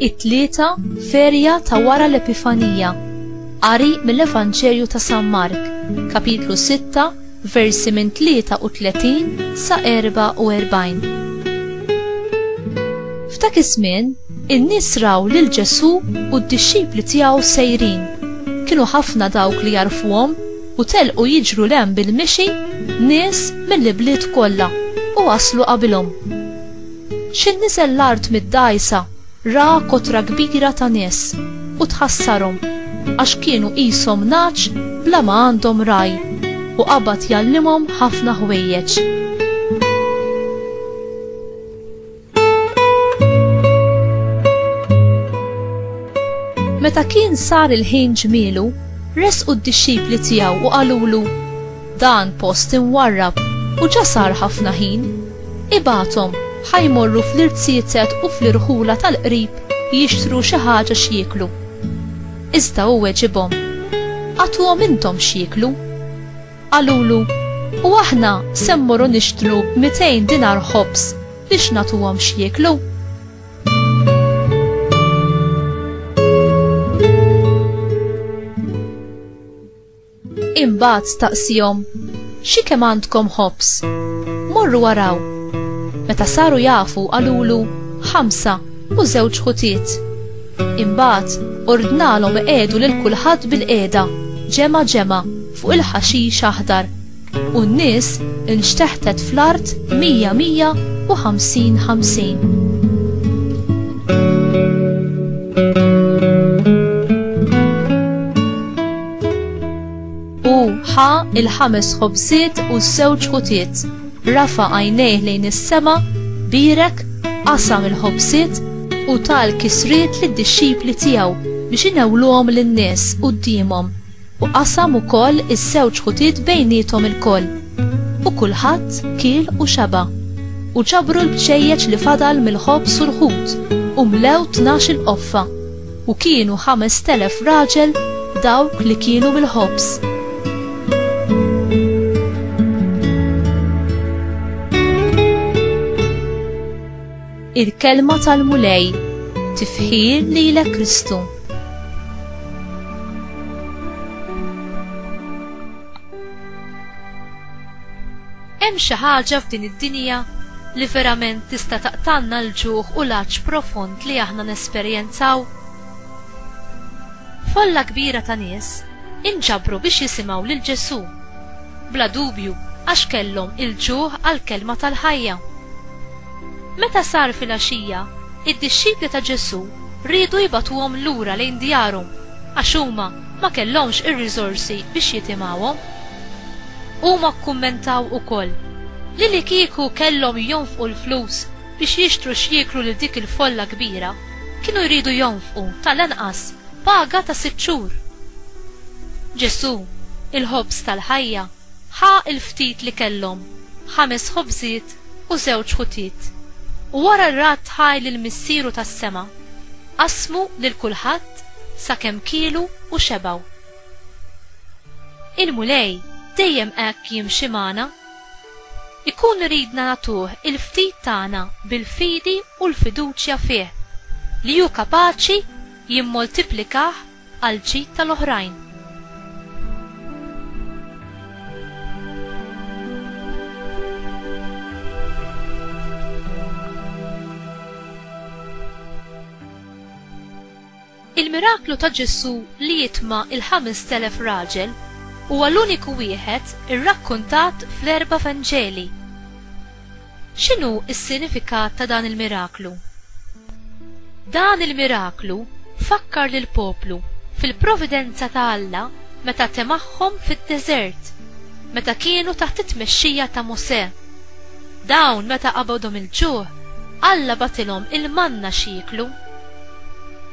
It-tlieta ferja ta' wara l-Epifanija. Qari mill-Evanġelju ta' San Mark, kapitlu 6, versi minn 33 sa 44. F'dak iż-żmien, in-nies raw lil Ġesù u d-dixxipli tiegħu sejrin. Kienu ħafna dawk li jarfuhom u telqu jiġru 'l hemm bil-mixi nies mill-ibliet kollha u waslu qabilhom. Xi niżel l-art mid-dgħajsa Ra kotra kbira ta' nies, u tħassarhom, għax kienu qishom nagħaġ bla ma għandhom ragħaj, u qabad jgħallimhom ħafna ħwejjeġ. Meta kien sar il-ħin ġmielu, resqu d-dixxipli tiegħu u qalulu, Dan post imwarrab u ġa sar ħafna ħin. Ibgħathom ħa jmorru fl-irziezet u fl-irħula tal-qrib jixtru xi ħaġa x'jieklu. Iżda hu weġibhom, Agħtuhom intom x'jieklu. Qalulu, U aħna se mmorru nixtru b'mitejn dinar ħobż biex nagħtuhom x'jieklu? Imbagħad staqsihom, xi kemm għandkom ħobs? Morru waraw. Meta saru jafu qalulu ħamsa u żewġ ħutiet. Imbagħad ordnalhom iqegħdu lil kulħadd bil-qiegħda, ġemgħa ġemgħa, fuq il-ħaxix aħdar. u n-nies inxteħtet fl-art mija mija u ħamsin ħamsin. U ħa il-ħames ħobżiet u s-sewġ ħutiet, rafa għajnejh lejn is-sema, birek, qasam il-ħobżiet u tal kisriet lid-dixxipli tiegħu biex inewluhom lin-nies quddiemhom. U qasam ukoll iż-żewġ ħutiet bejniethom ilkoll. U kulħadd kiel u xeba'. U ġabru l-bċejjeċ li fadal mill-ħobż u l-ħut, u mlew tnax-il qoffa, u kienu ħamest elef raġel dawk li kienu mill-ħobż. Il-Kelma tal-Mulej, tifħir lilek Kristu. Hemm xi ħaġa f'din id-dinja li verament tista' taqtanna l-ġuħ u l-għatx profond li aħna nesperjenzaw? Folla kbira ta' nies inġabru biex jisimgħu lil Ġesù, bla dubju għax kellhom il-ġuħ għall-kelma tal-ħajja. Meta sar filgħaxija, id-dixxipli ta' Ġesù riedu jibagħtuhom lura lejn djarhom għax huma ma kellhomx ir-riżorsi biex jitimgħuhom. Huma kkummentaw ukoll li li kieku kellhom jonfqu l-flus biex jixtru x'jieklu lil dik il-folla kbira, kienu jridu jonfqu tal-anqas paga ta' sitt xhur. Ġesù, il-Ħobż tal-ħajja, ħa l-ftit li kellhom, ħames ħobżiet u żewġ ħutiet, u wara r-radd ħaj lil Missieru tas-sema, qasmu lil kulħadd sakemm kielu u xebgħu. Il-Mulej dejjem hekk jimxi magħna. Ikun iridna nagħtuh il-ftit tagħna bil-fidi u l-fiduċja fih li hu kapaċi jimmoltiplikah għall-ġid tal-oħrajn. Il-miraklu ta' Ġesù li jitma' il-ħamest elef raġel huwa l-uniku wieħed irrakkuntat fl-erba' Vanġeli. X'inhu s-sinifikat ta' dan il-miraklu? Dan il-miraklu fakkar lill-poplu fil-providenza ta' Alla meta temagħhom fid-deżert, meta kienu taħt it-tmexxija ta' Mosè. Dawn meta qabadhom il-ġuħ, Alla bagħtilhom il-manna x'jieklu.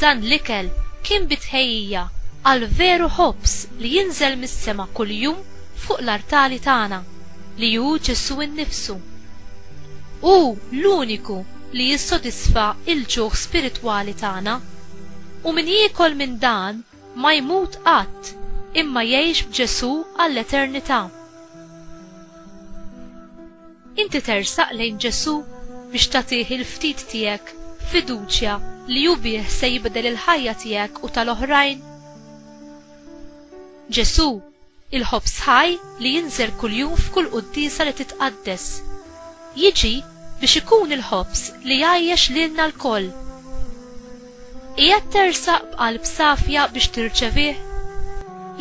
Dan l-ikel kien bi tħejjija għall-veru ħobż li jinżel mis-sema kuljum fuq l-artali tagħna. li hu Ġesù nnifsu. Hu l-uniku li jissodisfa l-ġuħ spiritwali tagħna. U min jiekol minn dan ma jmut qatt imma jgħix b'Ġesù għall-eternità. Inti tersaq lejn Ġesù biex tagħtih il-ftit tiegħek b'fiduċja li hu bih se jibdel il-ħajja tiegħek u tal-oħrajn? Ġesù il-ħobż ħaj li jinżel kuljum f'kull quddiesa li titqaddes. Jiġi biex ikun il-ħobż li jgħajjex lilna lkoll. Qiegħed tersaq b'qalb safja biex tirċevih?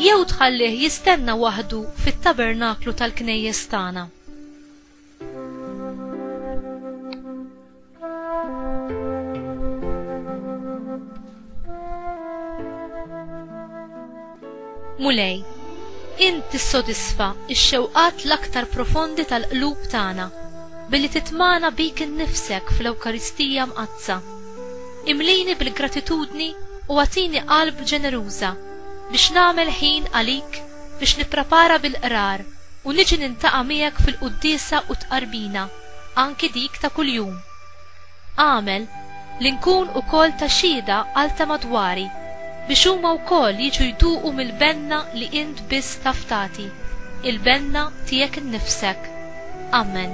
Jew tħallih jistenna waħdu fit-tabernaklu tal-knejjes tagħna? Mulej, int tissodisfa x-xewqat l-aktar profondi tal-qlub tagħna billi titmagħna bik innifsek fl-Ewkaristija Mqaddsa. Imlini bil-gratitudni u agħtini qalb ġeneruża biex nagħmel ħin għalik biex nipprepara bil-Qrar u niġi nintaqa' miegħek fil-quddiesa u t-tqarbina, anki dik ta' kuljum. Agħmel li nkun ukoll ta' xhieda għal ta' madwari biex huma wkoll jiġu jduqu mill-benna li int biss taf tagħti, il-benna tiegħek innifsek. Amen.